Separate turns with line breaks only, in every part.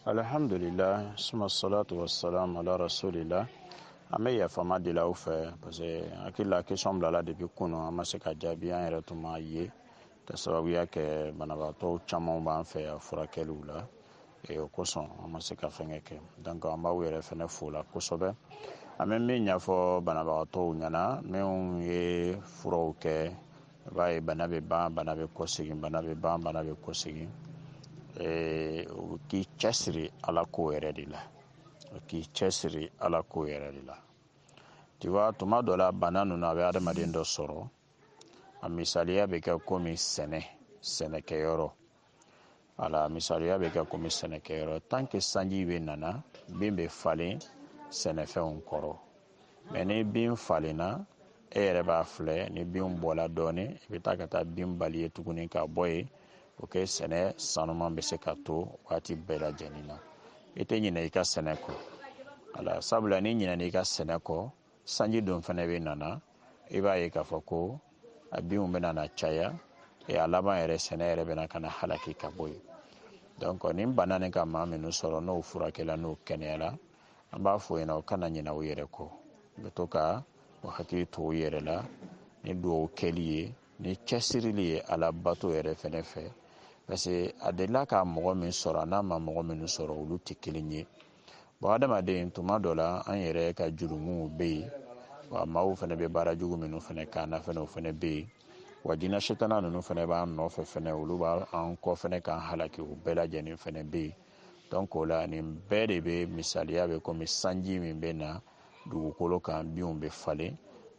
alhamdulillah suma salatu wa salam ala rasulillah an bɛ yafama deli aw fɛ parce que hakili la question bilala depuis kunu an ma se k'a jaabi an yɛrɛ tun m'a ye ka sababuya kɛ banabagatɔw caman b'an fɛ yan furakɛliw la e, o kosɔn an ma se ka fɛnkɛ kɛ donc an b'aw yɛrɛ fɛnɛ fo la kosɛbɛ an bɛ min ɲɛfɔ banabagatɔw ɲɛna minnu ye furaw kɛ i b'a ye bana bɛ ban bana bɛ kɔsegin bana bɛ ban bana bɛ kɔsegin u k'i cɛsiri ala ko yɛrɛ de la u k'i cɛsiri ala ko yɛrɛ de la tu vois tuma dɔ la bana ninnu a bɛ adamaden dɔ sɔrɔ a misaliya bɛ kɛ komi sɛnɛ sɛnɛkɛyɔrɔ wala misaliya bɛ kɛ komi sɛnɛkɛyɔrɔ tant que sanji bɛ nana bin bɛ falen sɛnɛfɛnw kɔrɔ mais ni bin falenna e yɛrɛ b'a filɛ ni bin bɔla dɔɔnin i bɛ taa ka taa bin balayer tuguni ka bɔ yen pour que sɛnɛ sanuman bɛ se ka to waati bɛɛ lajɛlen na i tɛ ɲinɛ i ka sɛnɛ kɔ ala sabula n'i ɲinɛna i ka sɛnɛ kɔ sanji don fɛnɛ bɛ nana i b'a ye k'a fɔ ko a binw bɛna na caya ee a laban yɛrɛ sɛnɛ yɛrɛ bɛ na ka na halaki ka bɔ yen donc ni bana nin ka maa minnu sɔrɔ n'o furakɛla n'o kɛnɛyara an b'a fɔ ɲɛna u kana ɲinɛ u yɛrɛ kɔ u bɛ to ka u hakili to u yɛrɛ la ni dugawu kɛli ye ni cɛsirili ye ala bato yɛrɛ fɛnɛ fɛ parce que a delila ka mɔgɔ min sɔrɔ an'a ma mɔgɔ minnu sɔrɔ olu tɛ kelen ye bon adamaden tuma dɔ la an yɛrɛ ka jurumuw bɛ yen wa maaw fɛnɛ bɛ baara jugu minnu fɛnɛ k'an na fɛnɛ o fɛnɛ bɛ yen wa jinɛ setana ninnu fɛnɛ b'an nɔfɛ fɛnɛ olu b'an kɔ fɛnɛ k'an halaki o bɛɛ lajɛlen fɛnɛ bɛ yen donc o la nin bɛɛ de bɛ misaliya bɛ komi sanji min bɛ na dugukolo kan binw bɛ falen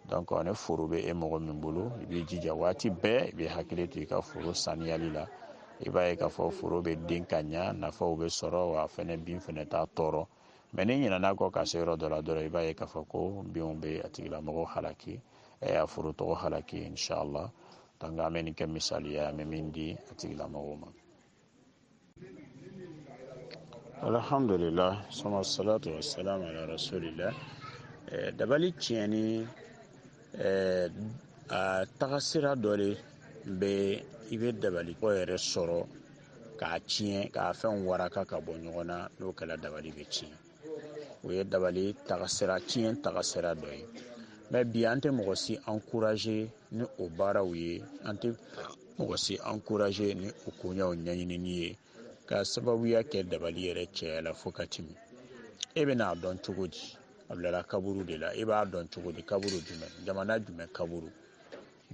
donc ni foro bɛ e mɔgɔ min bolo i b'i jija waati bɛɛ i bɛ hakili to i ka foro saniyali la i b'a ye k'a fɔ foro bɛ den ka ɲa nafaw bɛ sɔrɔ wa fɛnɛ bin fɛnɛ t'a tɔɔrɔ mais n'i ɲinɛna a kɔ ka se yɔrɔ dɔ la dɔrɔn i b'a ye k'a fɔ ko binw bɛ a tigilamɔgɔ halaki a foro tɔgɔ halaki inshallah donc an bɛ nin kɛ misaliya an bɛ min di a tigilamɔgɔw ma alhamdulillah suma salatu wa salam ala rasulillah eh, dabali tiɲɛni eh, a tagasira dɔ de bɛ i bɛ dabali kɔ yɛrɛ sɔrɔ k'a tiɲɛ k'a fɛnw waraka ka bɔ ɲɔgɔn na n'o kɛla dabali bɛ tiɲɛ o ye dabali tagasira tiɲɛ tagasira dɔ ye mais bi an tɛ mɔgɔ si encourager ni o baaraw ye an tɛ mɔgɔ si encourager ni o koɲɛw ɲɛɲinini ye ka sababuya kɛ dabali yɛrɛ cɛyala fo ka tɛmɛ e bɛna a dɔn cogo di a bilala kaburu de la e b'a dɔn cogo di kaburu jumɛn jamana jumɛn kaburu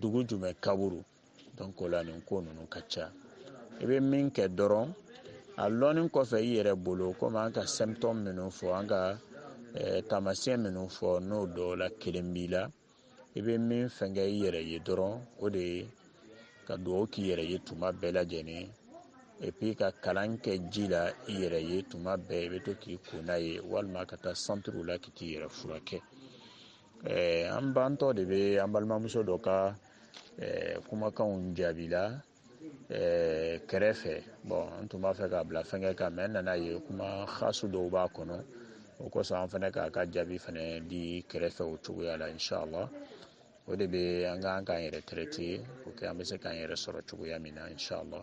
dugu jumɛn kaburu donc o la nin ko ninnu ka ca i bɛ min kɛ dɔrɔn a lɔnni kɔfɛ i yɛrɛ bolo komi an ka symptôme minnu fɔ an ka eh, taamasiyɛn minnu fɔ n'o dɔw la kelen b'i la i bɛ min fɛnkɛ i yɛrɛ ye dɔrɔn o de ye ka dugawu k'i yɛrɛ ye tuma bɛɛ lajɛlen epi ka kalan kɛ ji la i yɛrɛ ye tuma bɛɛ i bɛ to k'i ko n'a ye walima ka taa santiriw la k'i t'i yɛrɛ furakɛ eh, an bantɔ de bɛ an balimamuso dɔ ka eh, kumakanw jaabi la eh, kɛrɛfɛ bon an tun b'a fɛ k'a bila fɛnkɛ kan mais n nana a ye kuma hasu dɔw b'a kɔnɔ o kosɔn an fɛnɛ k'a ka jaabi fɛnɛ di kɛrɛfɛ o cogoya la inshallah o de bɛ an k'an k'an yɛrɛ traiter pour que an bɛ se k'an yɛrɛ sɔrɔ cogoya min na inshallah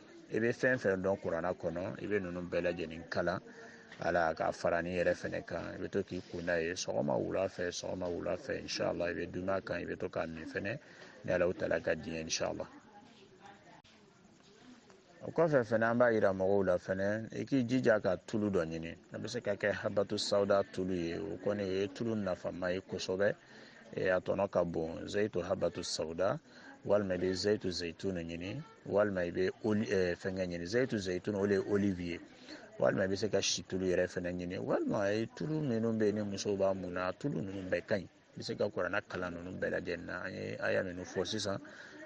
i bɛ fɛn fɛn dɔn kuranna kɔnɔ i bɛ ninnu bɛɛ lajɛlen kalan a la ka fara ni yɛrɛ fɛnɛ kan i bɛ to k'i ko n'a ye sɔgɔma wula fɛ sɔgɔma wula fɛ inshallah i bɛ dunan kan i bɛ to k'a min fɛnɛ ni ala taala ka diɲɛ inshallah o kɔfɛ fɛnɛ an b'a yira mɔgɔw la fɛnɛ i k'i jija ka tulu dɔ ɲini a bɛ se ka kɛ habatu sawuda tulu ye o kɔni o ye tulu nafama ye kosɛbɛ a tɔnɔ ka bon zayitu habatu sawuda walima i bɛ zayitu zeyituni ɲini walima i bɛ eh, fɛnkɛ ɲini zayitu zayitun o de ye olive ye walima i bɛ se ka si tulu yɛrɛ fɛnɛ ɲini walima tulu minnu bɛ yen ni musow b'a mun na tulu ninnu bɛɛ ka ɲi i bɛ se ka kuranna kalan ninnu bɛɛ lajɛlen na an ye aya minnu fɔ sisan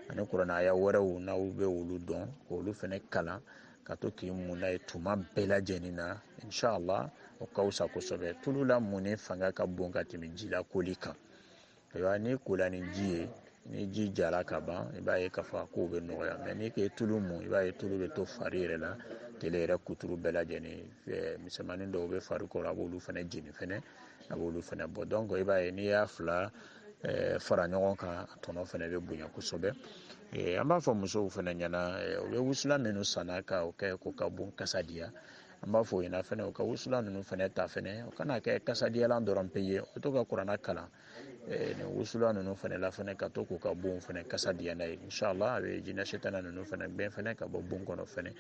ani kuranna aya wɛrɛw n'aw bɛ olu dɔn k'olu fɛnɛ kalan ka to k'i mun n'a ye tuma bɛɛ lajɛlen na inshallah o ka fisa kosɛbɛ tulu la munni fanga ka bon ka tɛmɛ ji la koli kan ayiwa n'i kola ni ji ye ni ji jara ka ban i b'a ye k'a fɔ a kow bɛ nɔgɔya mais n'i k'e tulu mun i b'a ye tulu bɛ to fari yɛrɛ la tele yɛrɛ kuturu bɛɛ lajɛlen misɛnmanin dɔw bɛ fari kɔrɔ a b'olu fɛnɛ jeni fɛnɛ a b'olu fɛnɛ bɔ donc i b'a ye n'i y'a fila fara ɲɔgɔn kan a tɔnɔ fɛnɛ bɛ bonya kosɛbɛ an b'a fɔ musow fɛnɛ ɲɛna u bɛ wusulan minnu sanna ka o kɛ ko ka bon kasa diya an b'a fɔ u ɲɛna fɛnɛ u ka wusulan ninnu fɛnɛ ta fɛnɛ u kana kɛ kasadiyalan dɔrɔn pe ye u to ka kuranna kalan eh, nin wusulan ninnu fɛnɛ la fɛnɛ ka to k'u ka bonw fɛnɛ kasa diya n'a ye inshallah a bɛ jinɛ setana ninnu fɛnɛ gɛn fɛnɛ ka bɔ bon kɔnɔ fɛnɛ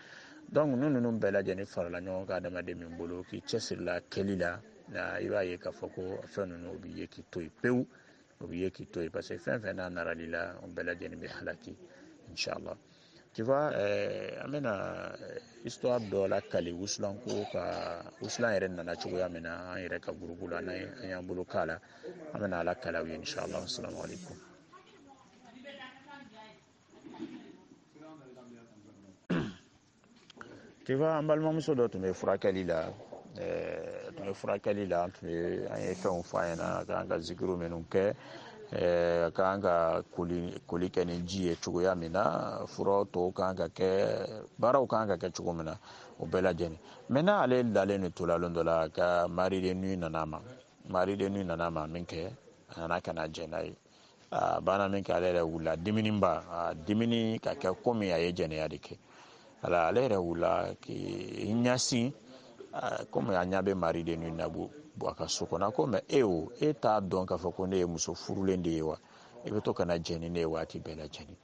donc ninnu ninnu bɛɛ lajɛlen farala ɲɔgɔn kan adamaden min bolo k'i cɛsirila kɛli la na i b'a ye k'a fɔ ko fɛn ninnu u b'i ye k'i to yen pewu u b'i ye k'i to yen parce que fɛn fɛn n'a naral'i la o bɛɛ lajɛlen bɛ halaki inshallah Tu vois, eh, an bɛna eh, histoire dɔ lakali wusulan ko kan wusulan yɛrɛ nana cogoya min na an yɛrɛ ka gurupu la n'an an y'an bolo k'a la an bɛna a lakali aw ye inshallah assalamu alaikum tu vois an balimamuso dɔ tun bɛ furakɛli la ɛɛ tun bɛ furakɛli la an tun ye an ye fɛnw f'a ɲɛna a kan ka zikiro minnu kɛ ɛɛ a kan ka koli koli kɛ ni ji ye cogoya min na furaw tɔw kan ka kɛ baaraw kan ka kɛ cogo min na o bɛɛ lajɛlen maintenant ale dalen de tola lon dɔ la ka mari de nuit nana ma mari de nuit nana ma min kɛ a nana ka na jɛ n'a ye a banna min kɛ ale yɛrɛ wulila diminenba a diminen ka kɛ komi a ye jɛnɛya de kɛ a la ale yɛrɛ wulila k'i ɲasin komi a ɲa bɛ mari de nuit na a bɛ bɔ a ka so kɔnɔ ko mais e o e t'a dɔn k'a fɔ ko ne ye muso furulen de ye wa e bɛ to ka na jɛ ni ne ye waati bɛɛ lajɛlen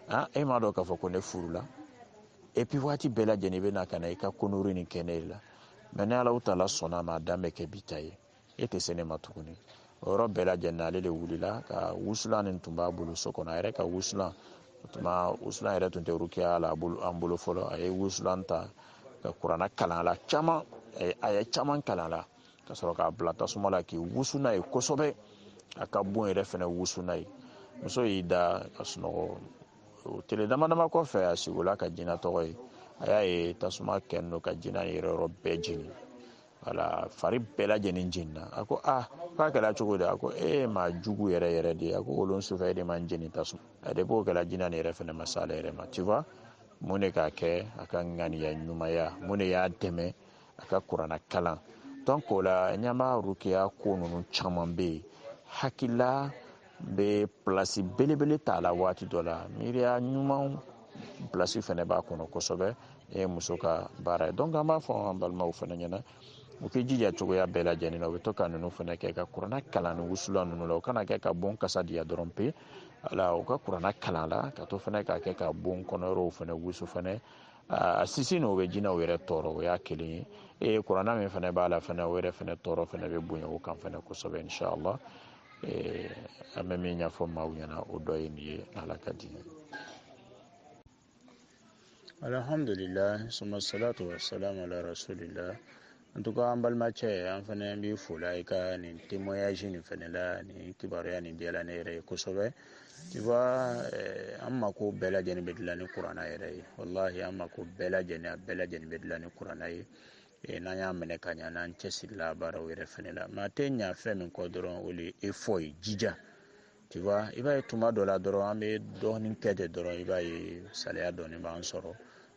ah e m'a dɔn k'a fɔ ko ne furula et puis waati bɛɛ lajɛlen i bɛ na ka na i ka connerie nin kɛ ne la mɛ ne ala u taala sɔnna a ma a dan bɛ kɛ bi ta ye e tɛ se ne ma tuguni o yɔrɔ bɛɛ lajɛlen ale de wulila ka wusulan nin tun b'a bolo so kɔnɔ a yɛrɛ ka wusulan o tuma wusulan yɛrɛ tun tɛ rukiya la an bolo fɔlɔ a ye wusulan ta ka kuranna kalan a la caman a ye caman kalan a la ka sɔrɔ k'a bila tasuma la k'i wusu n'a ye kosɛbɛ a ka bon yɛrɛ fɛnɛ wusu n'a ye muso y'i da ka sunɔgɔ o tile dama dama kɔfɛ a sigola ka jina tɔgɔ ye a y'a ye tasuma kɛlen don ka jina yɛrɛ yɔrɔ bɛɛ jeni wala fari bɛɛ lajɛlen jenina a ko a k'a kɛra cogo di a ko e maa jugu yɛrɛ yɛrɛ de a ko o lon sufɛ e de ma n jeni tasuma la de b'o kɛra jina nin yɛrɛ fɛnɛ ma s'ale yɛrɛ ma tu vois mun de k'a kɛ a ka ŋaniya ɲumanya mun de y'a dɛmɛ a ka kuranna kalan donc o la ɲama rukiya ko ninnu caman bɛ yen hakilila bɛ plasi belebele t'a la waati dɔ la miiriya ɲumanw plasi fɛnɛ b'a kɔnɔ kosɛbɛ e muso ka baara ye donc an b'a fɔ an balimaw fɛnɛ ɲɛna u k'i jija cogoya bɛɛ lajɛlen na u bɛ to ka ninnu fɛnɛ kɛ ka kuranna kalan ni wusulan ninnu la u kan'a kɛ ka bon kasa diya dɔrɔn pe ala u ka kuranna kalan a la ka to fɛnɛ k'a kɛ ka bon kɔnɔyɔrɔw fɛnɛ wusu fɛnɛ a sisi nin o bɛ jinɛw yɛrɛ tɔɔrɔ o y'a kelen ye ee kuranna min fɛnɛ b'a la fɛnɛ o yɛrɛ fɛnɛ tɔɔrɔ fɛnɛ bɛ bonya o kan fɛnɛ kosɛbɛ inshallah eh, an bɛ min ɲɛfɔ maaw ɲɛna o dɔ ye nin ye ala ka di alhamdulillah summa salatu wa salam ala rasulillah en tout cas an balimacɛ an fɛnɛ b'i fola i ka nin témoignage nin fɛnɛ la nin kibaruya nin diyala ne yɛrɛ ye kosɛbɛ tu vois eh, an mako bɛɛ lajɛlen bɛ dilan ni kuranna yɛrɛ ye wallahi an mako bɛɛ lajɛlen a bɛɛ lajɛlen bɛ dilan ni kuranna ye e n'an y'a minɛ ka ɲa n'an cɛsirila baaraw yɛrɛ fɛnɛ la mais a tɛ ɲa fɛn min kɔ dɔrɔn o le effort ye jija tu vois i b'a ye tuma dɔ la dɔrɔn an bɛ dɔɔnin kɛ de dɔrɔn i b'a ye saliya dɔɔnin b'an sɔrɔ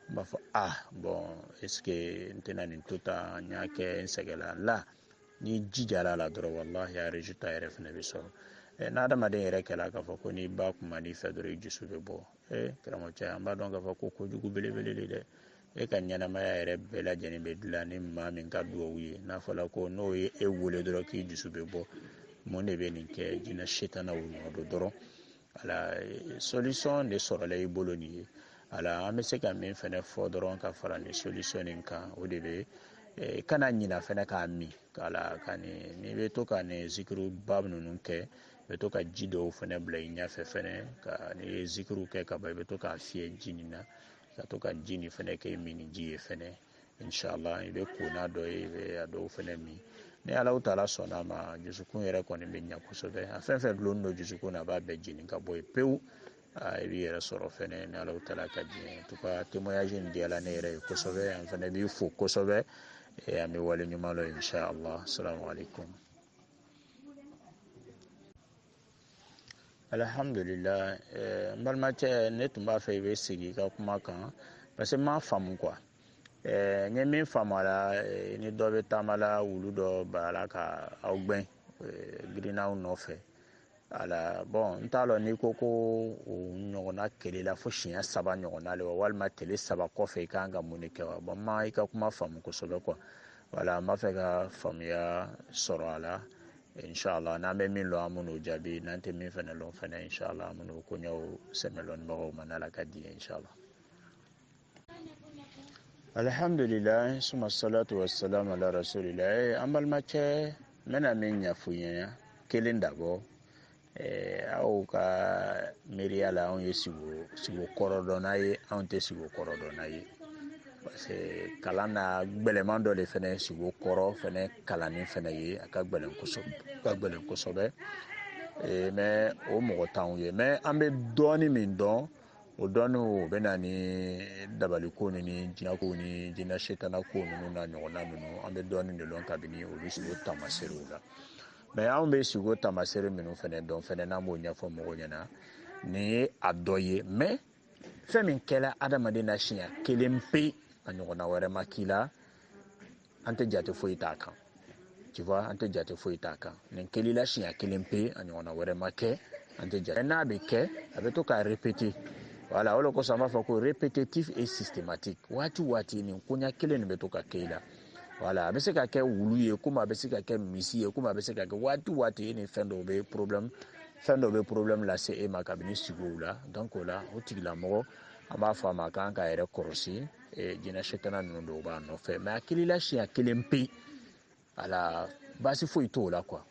n b'a fɔ ah bon est ce que n tɛna nin to tan n y'a kɛ n sɛgɛnla la n'i jijala a la dɔrɔn wallahi a résultat yɛrɛ fɛnɛ bɛ sɔrɔ ɛ n'adamaden yɛrɛ kɛla k'a fɔ ko n'i ba kuman'i fɛ dɔrɔn i dusu bɛ bɔ ee karamɔgɔcɛ an b'a dɔn k'a fɔ ko kojugu belebele de dɛ e ka ɲɛnamaya yɛrɛ bɛɛ lajɛlen bɛ dilan ni maa min ka dugawu ye n'a fɔla ko n'o ye e wele dɔrɔn k'i dusu bɛ bɔ mun de bɛ nin kɛ jinɛ setanaw nɔ don dɔrɔn voilà solution de sɔrɔla i bolo nin ye voilà an bɛ se ka min fɛnɛ fɔ dɔrɔn ka fara nin solution nin kan o de bɛ e, kana ɲina fɛnɛ k'a min k'a la ka nin n'i bɛ to ka nin zikiriba ninnu kɛ bɛ to ka ji dɔw fɛnɛ bila i ɲɛfɛ fɛnɛ ka n'i ye zikiriw kɛ ka ban i bɛ to k'a fiyɛ ji nin na ka to ka ji nin fɛnɛ kɛ minniji ye fɛnɛ inshallah i bɛ ko n'a dɔ ye i bɛ a dɔw fɛnɛ min ni ala taala sɔnna ma dusukun yɛrɛ kɔni bɛ ɲa kosɛbɛ a fɛn fɛn dulonnen don dusukun na a b'a bɛɛ jeni ka bɔ yen pewu i b'i yɛrɛ sɔrɔ fɛnɛ ni ala taala ka diɲɛ en tout cas témoignage in diyala ne yɛrɛ ye kosɛbɛ an fɛnɛ b'i fo kosɛbɛ an bɛ wale ɲuman lɔn inshallah salamu alaikum alihamdulilayi eh, n balimacɛ ne tun b'a fɛ i bɛ segin i ka kuma kan parce que n m'a faamu quoi eh, n ye min faamu a la eh, ni dɔ bɛ taama la wulu dɔ barala ka aw gbɛn girinna aw nɔfɛ voilà bon n t'a lɔn n'i ko ko o ɲɔgɔnna kɛl'i la fo siɲɛ saba ɲɔgɔnna le wa walima tele saba kɔfɛ i ka kan ka mun de kɛ wa bon n ma i ka kuma faamu kosɛbɛ quoi voilà n b'a fɛ ka faamuya sɔrɔ a la inshallah n'an bɛ min lɔn an bɛn'o jaabi n'an tɛ min fɛnɛ lɔn fɛnɛ inshallah an bɛn'o koɲɛw sɛmɛ lɔnnibagaw ma n'ala ka diɲɛ inshallah alhamdulilayi suma salatu wa salam ala rasulilayi an balimacɛ n bɛna min ɲɛfɔ i ye kelen dabɔ Eh, aw ka miiriya la anw ye sigo kɔrɔ dɔnna ye anw tɛ sigo kɔrɔ dɔnna ye parce que kalan na gbɛlɛman dɔ de fɛnɛ sigo kɔrɔ fɛnɛ kalanni fɛnɛ ye a ka gbɛlɛn kosɛbɛ ka gbɛlɛn kosɛbɛ eh, mais o mɔgɔ t'anw ye mais an bɛ dɔɔni min dɔn o dɔɔni o bɛ na ni dabaliko ni jinɛko ni jinɛ setanako ninnu n'a ɲɔgɔnna ninnu an bɛ dɔɔni de dɔn kabini olu sigo tamaserew la mais anw bɛ sigo tamasere minnu fɛnɛ dɔn fɛnɛ n'an b'o ɲɛfɔ mɔgɔw ɲɛna nin ye a dɔ ye mais fɛn min kɛla adamaden na siɲɛ kelen pe a ɲɔgɔnna wɛrɛ ma k'i la an tɛ jate foyi t'a kan tu vois an tɛ jate foyi t'a kan nin kɛl'i la siɲɛ kelen pe a ɲɔgɔnna wɛrɛ ma kɛ an tɛ jate n'a bɛ kɛ a bɛ to k'a répéter voilà o de kosɔn an b'a fɔ ko répétitif et systématique waati o waati nin koɲa kelen nin bɛ to ka kɛ i la voilà a bɛ se ka kɛ wulu ye komi a bɛ se ka kɛ misi ye komi a bɛ se ka kɛ waati o waati e ni fɛn dɔw bɛ problème fɛn dɔw bɛ problème lase e ma kabini sigow la donc o la o tigilamɔgɔ an b'a fɔ a ma a kan k'a yɛrɛ kɔlɔsi eh, jinɛ setana ninnu dɔw b'a nɔfɛ mais a kilila siɲɛ kelen pe ala baasi foyi t'o la quoi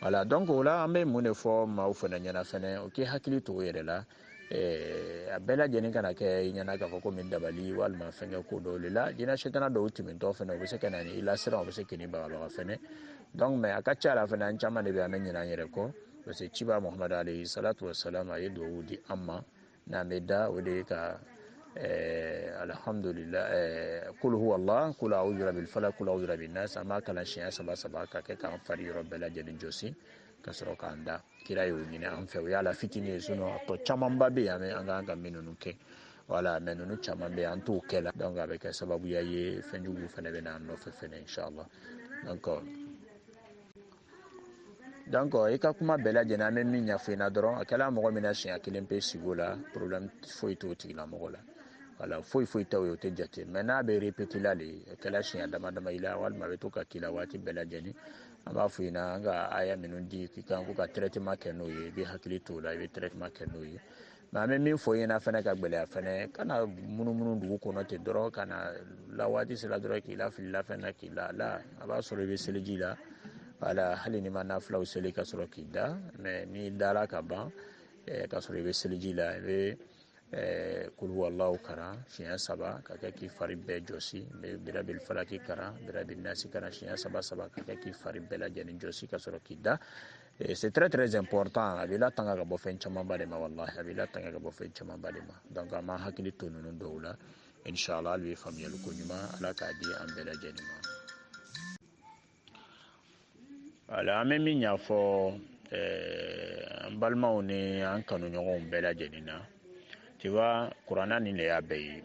voilà donc o la an bɛ mun de fɔ maaw fana ɲɛna fɛnɛ o k'i hakili to o yɛrɛ la eh, a bɛɛ lajɛlen kana kɛ i ɲɛna k'a fɔ comme dabali walima fɛnkɛ ko dɔw le la jinɛ setana dɔw tɛmɛntɔ fɛnɛ o bɛ se ka na ni i lasiran o bɛ se k'i ni bagabaga fɛnɛ donc mais a ka ca la fɛnɛ an caman de bɛ an bɛ ɲinɛ an yɛrɛ kɔ parce que ciba muhamadu alayhi salatu wasalam a ye duwawu di an ma n'an bɛ da o de ye ka eh, alhamdulillah eh, kul huwa allah kul a'udhu rabbil falaq kul a'udhu rabbin nas an b'a kalan siɲɛ saba saba ka kɛ k'an fari yɔrɔ bɛɛ lajɛlen jɔsi ka sɔrɔ k'an da kira y'o ɲini an fɛ o y'a la fitini ye sinon a tɔ camanba bɛ yen an kan ka min ninnu kɛ voilà mais ninnu caman bɛ yen an t'o kɛ la donc a bɛ kɛ sababuya ye fɛn juguw fana bɛ na an nɔfɛ fɛnɛ inshallah donc donc i ka kuma bɛɛ lajɛlen an bɛ min ɲɛfɔ i na dɔrɔn a kɛla mɔgɔ min na siɲɛ kelen pe sigo la problème foyi t'o tigilamɔgɔ la voilà foyi foyi t'o ye o tɛ jate mais n'a bɛ répété la de a kɛla siɲɛ dama dama i la walima a bɛ to ka k'i la waati bɛɛ lajɛlen an b'a fɔ i na an ka aya minnu di k'i kan ko ka traitement kɛ n'o ye i bɛ hakili t'o la i bɛ traitement kɛ n'o ye mais an bɛ min fɔ i ɲɛna fana ka gɛlɛya fana kana munumunu dugu kɔnɔ ten dɔrɔn ka na la waati sera dɔrɔn k'i lafili lafɛn na k'i la la a b'a sɔrɔ i bɛ seliji la voilà hali n'i ma nafilaw seli ka sɔrɔ k'i da mais n'i dara ka ban eh, ka sɔrɔ i bɛ seliji la i bɛ eh, kul huwallahu karan siɲɛ saba ka kɛ k'i fari bɛɛ jɔsi i bɛ birabil falaki karan birabil nasi karan siɲɛ saba saba ka kɛ k'i fari bɛɛ lajɛlen jɔsi ka sɔrɔ k'i da Eh, c'est très très important a b'i latanga ka bɔ fɛn camanba de ma wallahi a b'i latanga ka bɔ fɛn camanba de ma donc an b'an hakili to ninnu dɔw la inshallah hali bi faamuyali ko ɲuman ala k'a di an bɛɛ lajɛlen ma voilà an bɛ min ɲɛfɔ eh, an balimaw ni an kanuɲɔgɔnw bɛɛ lajɛlen na tu vois kuranna nin le y'a bɛɛ ye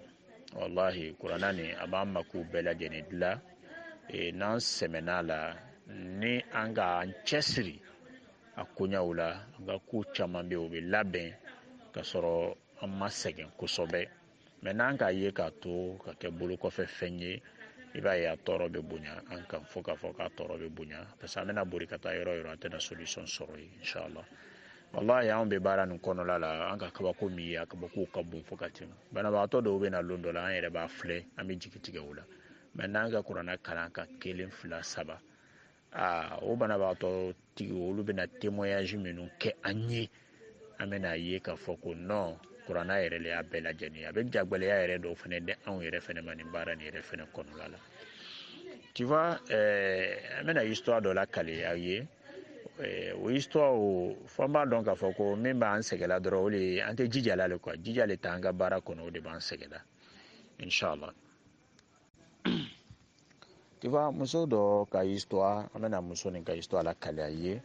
wallahi kuranna nin a b'an makow bɛɛ lajɛlen dilan e, n'an sɛmɛn'a la ni an ka an cɛsiri a koɲaw la an ka ko caman bɛ o bɛ labɛn ka sɔrɔ an ma sɛgɛn kosɛbɛ mais n'an k'a ye k'a to ka kɛ bolo kɔfɛ fɛn ye i b'a ye a tɔɔrɔ bɛ bonya an kan fo k'a fɔ k'a tɔɔrɔ bɛ bonya parce que an bɛna bori ka taa yɔrɔ yɔrɔ an tɛna solution sɔrɔ yen inshallah wallahi anw bɛ baara nin kɔnɔla la an ka kabako min ye a kabakow ka bon fo ka tɛmɛ banabagatɔ dɔw bɛ na lon dɔ la an yɛrɛ b'a filɛ an bɛ jigi tigɛ o la mais n'an ka kuranna kalan a kan kelen fila saba aa o banabagatɔ tigi olu bɛna témoignage minnu kɛ an ye an bɛn'a ye k'a fɔ ko non kuranna yɛrɛ le y'a bɛɛ lajɛlen a bɛ jagwɛlɛya yɛrɛ dɔw fana di anw yɛrɛ fana ma nin baara nin yɛrɛ fana kɔnɔla la tu vois ɛɛ an bɛna histoire dɔ lakale aw ye o histoire o fɔ an b'a dɔn k'a fɔ ko min b'an sɛgɛla dɔrɔn o de an tɛ jija la le quoi jija le t'an ka baara kɔnɔ o de b'an sɛgɛla inshallah tu vois muso dɔ ka histoire an bɛna muso nin ka histoire lakali aw ye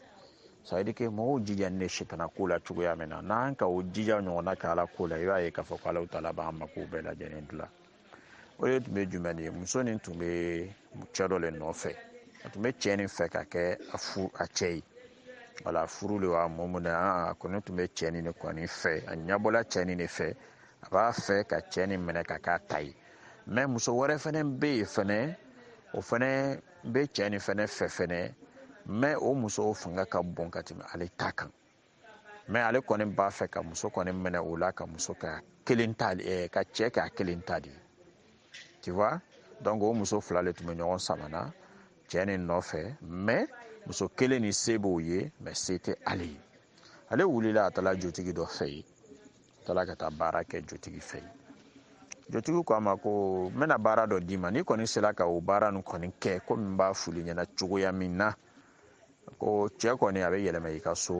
ça veut dire que mɔgɔw jijanin ne sitana ko la cogoya min na n'an ka o jija ɲɔgɔnna kɛ ala ko la i b'a ye k'a fɔ ko ala taala b'an mako bɛɛ lajɛlen dilan o de tun bɛ jumɛn ye muso nin tun bɛ cɛ dɔ le nɔfɛ a tun bɛ cɛ nin fɛ ka kɛ a fu a cɛ ye wala furu le wa mɔmu na a kɔni tun bɛ cɛ nin de kɔni fɛ a ɲɛbɔla cɛ nin de fɛ a b'a fɛ ka cɛ nin minɛ ka k'a ta ye mais muso wɛrɛ fɛnɛ bɛ yen fɛnɛ o fɛnɛ bɛ cɛ nin fɛnɛ fɛ fɛnɛ mais o muso fanga ka bon ka tɛmɛ ale ta kan mais ale kɔni b'a fɛ ka muso kɔni minɛ o la ka muso k'a kelen ta eh, ka cɛ k'a kelen ta de tu vois donc o muso fila le tun bɛ ɲɔgɔn samana cɛ nin nɔfɛ mais muso kelen nin se b'o ye mais se tɛ ale ye ale wulila a taara jotigi dɔ fɛ yen a taara ka taa baara kɛ jotigi fɛ yen jotigi ko a ma ko n bɛna baara dɔ d'i ma n'i kɔni sera ka o baara nin kɔni kɛ komi n b'a fɔl'i ɲɛna cogoya min na ko cɛ kɔni a bɛ yɛlɛma i ka so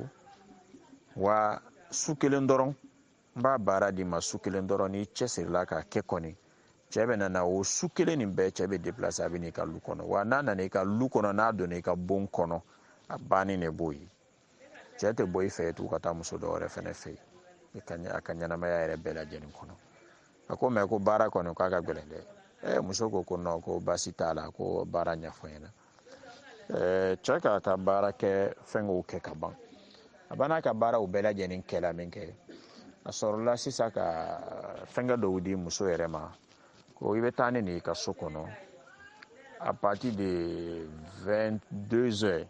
wa su kelen dɔrɔn n b'a baara d'i ma su kelen dɔrɔn n'i cɛsirila k'a kɛ kɔni cɛ bɛna na o su kelen nin bɛɛ cɛ bɛ déplacer a bɛ n'i ka lu kɔnɔ wa n'a nana i ka lu kɔnɔ n'a donna i ka bon kɔnɔ a bannen de b'o ye cɛ tɛ bɔ i fɛ tugu ka taa muso dɔ wɛrɛ fɛnɛ fɛ yen ka a ka ɲɛnamaya yɛrɛ bɛɛ lajɛlen kɔnɔ a ko mais ko baara kɔni k'a ka gɛlɛn dɛ eh, muso ko ko non ko baasi t'a la ko baara ɲɛfɔ n ɲɛna eh, cɛ k'a ka baara kɛ fɛnkɛw kɛ ka ban a banna ka baaraw bɛɛ lajɛlen kɛla min kɛ a sɔrɔla sisan ka fɛnkɛ dɔw di muso yɛrɛ ma ko i bɛ taa ni nin i ka so kɔnɔ à partir de 22 heures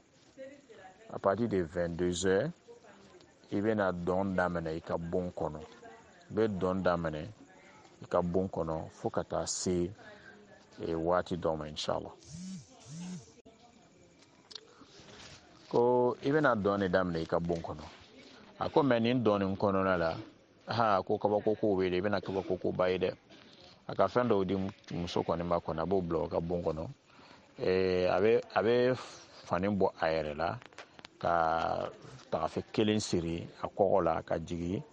à partir de 22 heures i bɛna dɔn daminɛ i ka bon kɔnɔ i bɛ dɔn daminɛ i ka bon kɔnɔ fo ka taa se e, waati dɔ ma inshallah ko i bɛna dɔn de daminɛ i ka bon kɔnɔ a ko mais nin dɔn nin kɔnɔna la ha ko kabako kow bɛ yen i bɛna kabako koba ye dɛ a ka fɛn dɔw di muso kɔni ma kɔni a b'o bila o ka bon kɔnɔ eh, a bɛ a bɛ fani bɔ a yɛrɛ la ka tagafe kelen siri a kɔgɔ la ka jigin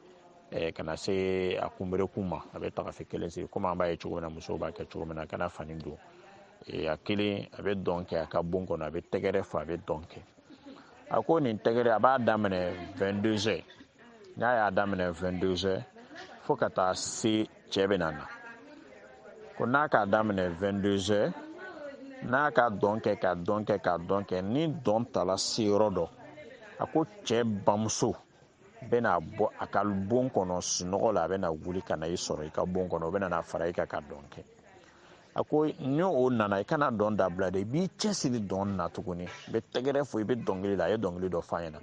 eh, ka na se a kunberekun ma a bɛ tagafe kelen siri komi an b'a ye cogo min na musow b'a kɛ cogo min na a kana fani don eh, a kelen a bɛ dɔn kɛ a ka bon kɔnɔ a bɛ tɛgɛrɛ fɔ a bɛ dɔn kɛ a ko nin tɛgɛrɛ a b'a daminɛ 22 heures n'a y'a daminɛ 22 heures fo ka taa se cɛ bɛna na ko n'a k'a daminɛ 22 heures n'a ka dɔn kɛ ka dɔn kɛ ka dɔn kɛ ni dɔn tala se yɔrɔ dɔ a ko cɛ bamuso bɛna bɔ a ka bon kɔnɔ sunɔgɔ la a bɛna wuli ka na i sɔrɔ i ka bon kɔnɔ o bɛna na fara i kan ka dɔn kɛ a ko ni o nana i kana dɔn dabila dɛ i b'i cɛsiri dɔn na tuguni i bɛ tɛgɛrɛ fɔ i bɛ dɔnkili la a ye dɔnkili dɔ f'a ɲɛna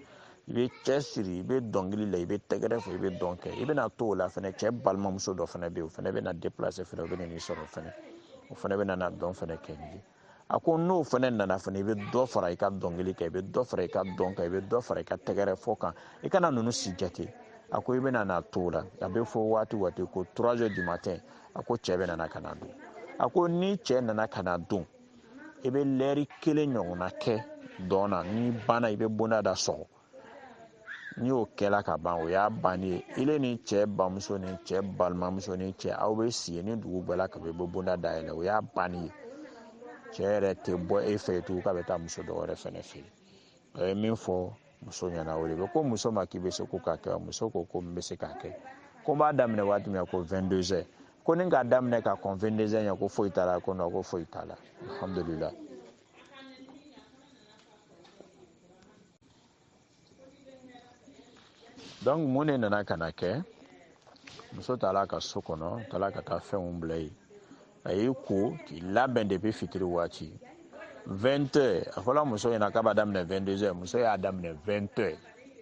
i bɛ cɛsiri i bɛ dɔnkili la i bɛ tɛgɛrɛ fɔ i bɛ dɔn kɛ i bɛna to o la fɛnɛ cɛ balimamuso dɔ fɛnɛ bɛ yen o fɛnɛ bɛna déplacer fɛnɛ o bɛna n'i sɔrɔ fɛnɛ o fɛnɛ bɛna na dɔn fɛnɛ kɛ n'i ye a ko n'o fɛnɛ nana fɛnɛ i bɛ dɔ fara i ka dɔnkili kan i bɛ dɔ fara i ka dɔn kan i bɛ dɔ fara i ka tɛgɛrɛ fɔ kan i kana ninnu si jate a ko i bɛna na to o la a bɛ fɔ waati waati ko trois heures du matin a ko cɛ bɛna na ka na don a ko ni cɛ nana ka na don i bɛ lɛri kelen ɲɔgɔnna kɛ dɔn na ni banna i bɛ bonda da sɔgɔ ni o kɛla ka ban o y'a bannen ye ile ni cɛ bamuso ni cɛ balimamuso ni cɛ aw bɛ si ni dugu gbɛla k'a bɛ bonda dayɛlɛ o y'a bannen ye cɛ yɛrɛ tɛ bɔ e fɛ tugun k'a bɛ taa muso dɔ wɛrɛ fɛnɛ fɛ yen a ye min fɔ muso ɲɛna o de bɛ ko muso ma k'i bɛ se ko k'a kɛ wa muso ko ko n bɛ se k'a kɛ ko n b'a daminɛ waati min na ko 22 heures ko ni k'a daminɛ ka kɔn 22 heures ɲɛ ko foyi t'a la ko non ko foyi t'a la alhamdulilah donc mun de nana ka na kɛ muso taara a ka so kɔnɔ taara ka taa fɛnw bila yen a y'i ko k'i labɛn depuis fitiri waati 20 heures a fɔla muso ɲɛna k'a b'a daminɛ 22 heures muso y'a daminɛ 20 heures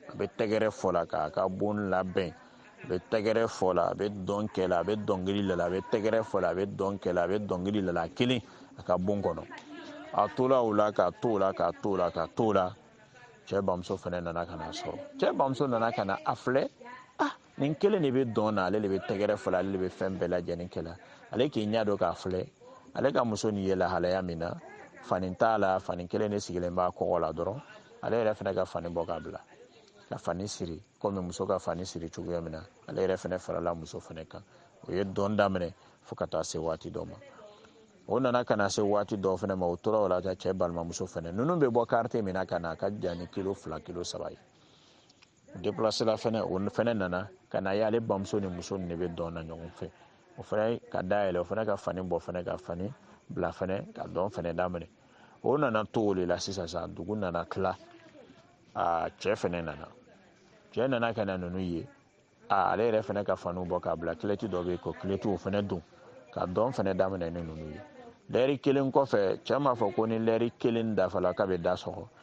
a bɛ tɛgɛrɛ fɔ la k'a ka bon labɛn a bɛ tɛgɛrɛ fɔ la a bɛ dɔn kɛ la a bɛ dɔnkili la la a bɛ tɛgɛrɛ fɔ la a bɛ dɔn kɛ la a bɛ dɔnkili la la kelen a ka bon kɔnɔ a tora o la ka to o la ka to o la ka to o la cɛ bamuso fɛnɛ nana ka n'a sɔrɔ cɛ bamuso nana ka na a filɛ ah nin kelen de bɛ dɔn na ale de bɛ tɛgɛrɛ fɔ la ale de bɛ fɛn bɛɛ lajɛlen kɛ la ale k'i ɲɛ don k'a filɛ ale ka muso nin ye lahalaya min na fani t'a la fani kelen de sirilen b'a kɔgɔ la dɔrɔn ale yɛrɛ fɛnɛ ka fani bɔ k'a bila ka fani siri komi muso ka fani siri cogoya min na ale yɛrɛ fɛnɛ farala muso fɛnɛ kan o ye dɔn daminɛ fo ka taa se waati dɔ ma o nana ka na se waati dɔ fɛnɛ ma o tora o la cɛ balimamuso fɛnɛ ninnu bɛ bɔ quartier min na ka na a ka jan ni kilo fila kilo saba ye déplacé la fɛnɛ o fɛnɛ nana ka n'a ye ale bamuso ni muso nin de bɛ dɔn na ɲɔgɔn fɛ o fɛnɛ ka da yɛlɛ o fɛnɛ ka fani bɔ fɛnɛ ka fani bila fɛnɛ ka dɔn fɛnɛ daminɛ o nana to o de la sisan sa dugu nana tila aa cɛ fɛnɛ nana cɛ nana ka na ninnu ye aa ale yɛrɛ fɛnɛ ka faniw bɔ k'a bila kilɔti dɔ bɛ yen ko kilɔti o fɛnɛ don ka dɔn fɛnɛ daminɛ ni ninnu ye lɛri kelen kɔfɛ cɛ m'a fɔ ko ni lɛri kelen dafala k'a bɛ da sɔgɔ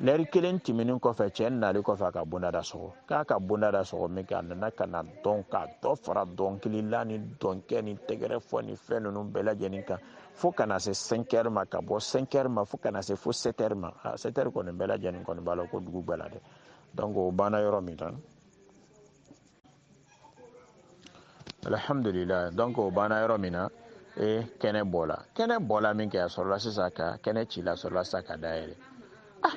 lɛri kelen tɛmɛnen kɔfɛ cɛ nali kɔfɛ a ka bonda da sɔgɔ k'a ka bonda da sɔgɔ min kɛ a nana ka na dɔn ka dɔ fara dɔnkili la ni dɔnkɛ ni tɛgɛrɛ fɔ ni fɛn ninnu bɛɛ lajɛlen kan fo ka na se 5 heures ma ka bɔ 5 heures ma fo ka na se fo 7 heures ma a 7 heures kɔni bɛɛ lajɛlen kɔni b'a lɔn ko dugu gwɛla dɛ donc o banna yɔrɔ min na alhamdulillah donc o banna yɔrɔ min na e kɛnɛ bɔla kɛnɛ bɔla min kɛ a sɔrɔla sisan ka kɛnɛ cila sɔrɔla sisan ka da yɛlɛ ah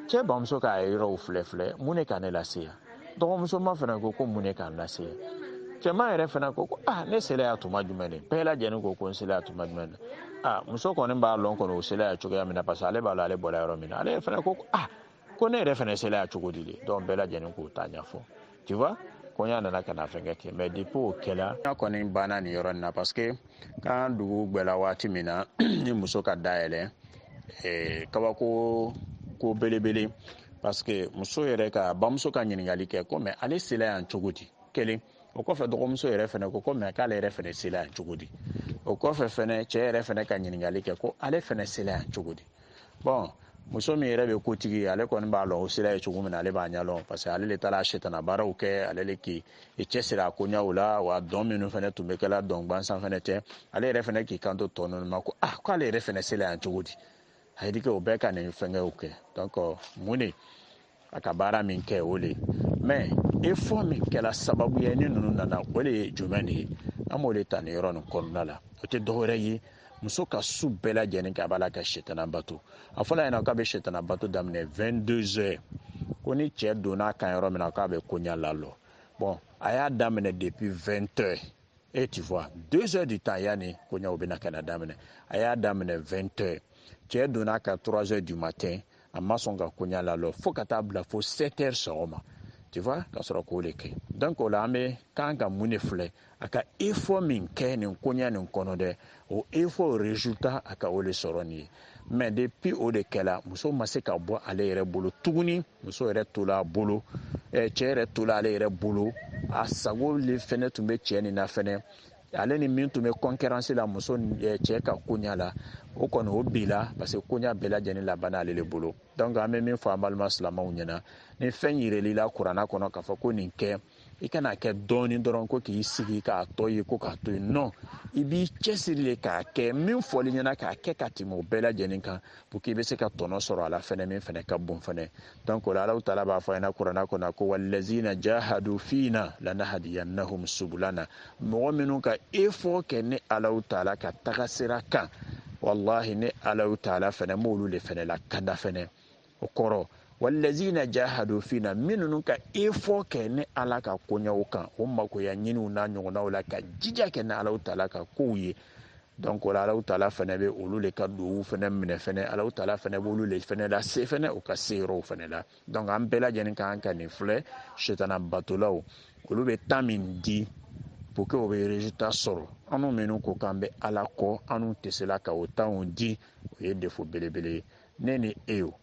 cɛ bamuso ka yɔrɔw filɛ filɛ mun de ka ne lase yan dɔgɔmusoma fana ko ko mun de k'an lase yan cɛman yɛrɛ fana ko ko ah ne sela yan tuma jumɛn de bɛɛ lajɛlen ko ko n sela yan tuma jumɛn de ah muso kɔni b'a lɔn kɔni o sela yan cogoya min na parce que ale b'a lɔn ale bɔra yɔrɔ min na ale fana ko ko ah ko ne yɛrɛ fana sela yan cogo di de donc bɛɛ lajɛlen k'o ta ɲɛfɔ tu vois koɲa nana ka na fɛnkɛ kɛ mais depuis o kɛla ya kɔni banna nin yɔrɔ na parce que quand dugu gwɛla waati min na ni muso ka da yɛlɛ eh, kabako ko belebele parce que muso yɛrɛ ka bamuso ka ɲininkali kɛ ko mais ale sela yan cogo di kelen o kɔfɛ dɔgɔmuso yɛrɛ fɛnɛ ko ko mais k'ale yɛrɛ fɛnɛ sela yan cogo di o kɔfɛ fɛnɛ cɛɛ yɛrɛ fɛnɛ ka ɲininkali kɛ ko ale fɛnɛ sela yan cogo di bon muso min yɛrɛ bɛ kotigi ale kɔni b'a lɔn o sela ye cogo min na ale b'a ɲɛlɔn parce que ale le taara setana baaraw kɛ ale le k'i cɛsiri a koɲaw la wa dɔn minnu fɛnɛ tun bɛ kɛla dɔn gwansan fɛnɛ tɛ ale yɛrɛ fɛnɛ k'i kanto tɔ ninnu ma ko ah k'ale yɛrɛ fɛnɛ sela yan cogo di a ye dike o bɛɛ ka nin fɛnkɛw kɛ donc mun de a ka baara min kɛ o de mais effort min kɛla sababu ye ni ninnu nana o de ye jumɛn de ye an b'o de ta nin yɔrɔ nin kɔnɔna la o tɛ dɔwɛrɛ ye muso ka su bɛɛ lajɛlen kɛ a b'a la ka setana bato a fɔla ɲɛna k'a bɛ setana bato daminɛ 22 heures ko ni cɛ donna kan yɔrɔ min na k'a bɛ koɲa lalɔ bon a y'a daminɛ depuis 20 heures et tu vois deux heures du temps yanni koɲaw bɛna ka na daminɛ a y'a daminɛ 20 heures cɛ donna ka 3 heures du matin a ma sɔn ka koɲa lalɔ fo ka taa bila fo 7 heures sɔgɔma tu vois ka sɔrɔ k'o de kɛ donc o la an bɛ kan ka mun de filɛ a ka effort min kɛ nin koɲa nin kɔnɔ dɛ o effort résultat a ka o de sɔrɔ nin ye mais depuis o de kɛla muso ma se ka bɔ ale yɛrɛ bolo tuguni muso yɛrɛ tola a bolo cɛ yɛrɛ tola ale yɛrɛ bolo a sago le fɛnɛ tun bɛ cɛ nin na fɛnɛ ale ni min tun bɛ concurrence la muso eh, cɛ ka koɲa la o kɔni o bila parce que koɲa bɛɛ lajɛlen labanna ale de bolo donc an bɛ min fɔ an balima silamaw ɲɛna ni fɛn yirel'i la kurana kɔnɔ k'a fɔ ko nin kɛ i kana kɛ dɔɔni dɔrɔn ko k'i sigi k'a tɔ ye ko k'a to yen non i b'i cɛsiri de k'a kɛ min fɔl'i ɲɛna k'a kɛ ka tɛmɛ o bɛɛ lajɛlen kan pour que i bɛ se ka tɔnɔ sɔrɔ a la fɛnɛ min fɛnɛ ka bon fɛnɛ donc o la alahu taala b'a fɔ an ɲɛna kurana kɔnɔ ko walazina jahadu fina lanahadiyannahum subulana mɔgɔ minnu ka effort kɛ ni alahu taala ka taga sira kan walahi ni alahu taala fɛnɛ b'olu le fɛnɛ lakanda fɛnɛ o kɔrɔ walazina jahadu fina minnu ka effort kɛ ni ala ka koɲɛw kan o makoya ɲiniw n'a ɲɔgɔnnaw la ka jija kɛ ni alahu taala ka kow ye donc o la alahu taala fɛnɛ bɛ olu le ka duwaw fɛnɛ minɛ fɛnɛ alahu taala fɛnɛ b'olu le fɛnɛ lase fɛnɛ u ka se yɔrɔw fɛnɛ la donc an bɛɛ lajɛlen kan ka nin filɛ sitana batolaw olu bɛ temps min di pour que o bɛ résultat sɔrɔ anw minnu ko k'an bɛ ala kɔ anw tɛ se la ka o temps di o ye défaut belebele ye ne ni e yo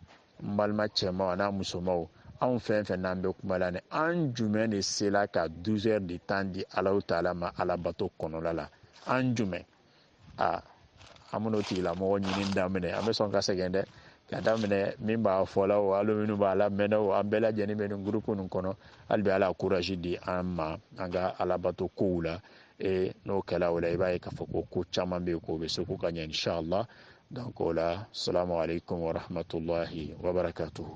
n balima cɛmaw an'a musomaw anw fɛn fɛn n'an bɛ kuma la ni an jumɛn de sela ka 12 heures de temps di alahu taala ma alabato kɔnɔla la an jumɛn a an bɛn'o tigilamɔgɔ ɲinin daminɛ an bɛ sɔn ka sɛgɛn dɛ ka daminɛ min b'a fɔla o alu minnu b'a lamɛnna o an bɛɛ lajɛnin bɛ nin groupe nin kɔnɔ hali bi ala courage di an ma an ka alabato kow la e n'o kɛla o la i b'a ye k'a fɔ ko ko caman bɛ yen k'o bɛ se k'u ka ɲɛ inshallah donc o la salamu aleykum wa rahmatulahi wa barakatuhu.